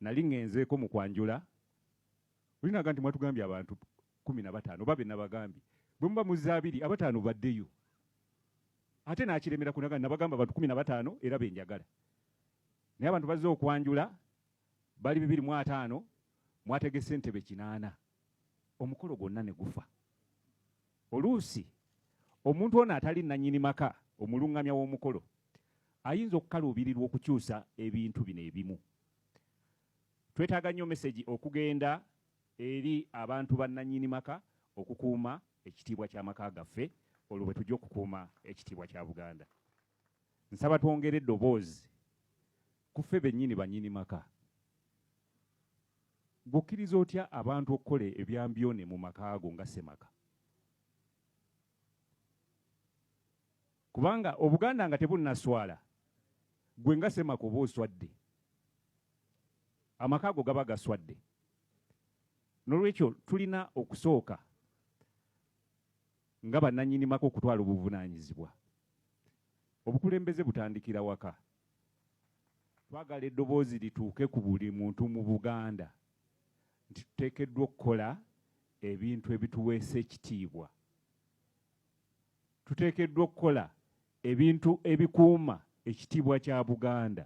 Nali ngenzeeko mu kwanjula, oli naga nti mwatugambye abantu kumi na bataano oba benabagambye bwe muba muzze abiri abataano baddeyo ate nakiremera kunaga nabagamba abantu kumi na bataano era benjagala naye abantu bazze okwanjula bali bibiri mu ataano mwategese entebe kinaana omukolo gwonna ne gufa. Oluusi omuntu ono atali nnannyini maka, omulungamya w'omukolo, ayinza okukaluubirirwa okukyusa ebintu bino ebimu. Twetaaga nnyo mesegi okugenda eri abantu bannannyini maka okukuuma ekitiibwa ky'amaka gaffe olwo bwe tujja okukuuma ekitiibwa kya Buganda. Nsaba twongere eddoboozi ku ffe bennyini bannyini maka. Gwe okkiriza otya abantu okukola ebyambyone mu maka go nga ssemaka? Kubanga Obuganda nga tebunnaswala, gwe nga ssemaka oba oswadde, amaka go gaba gaswadde. N'olwekyo tulina okusooka nga bannannyini maka okutwala obuvunaanyizibwa. Obukulembeze butandikira waka. twagala eddoboozi lituuke ku buli muntu mu Buganda nti tuteekeddwa okukola ebintu ebituweesa ekitiibwa tuteekeddwa okukola ebintu ebikuuma ekitiibwa kya Buganda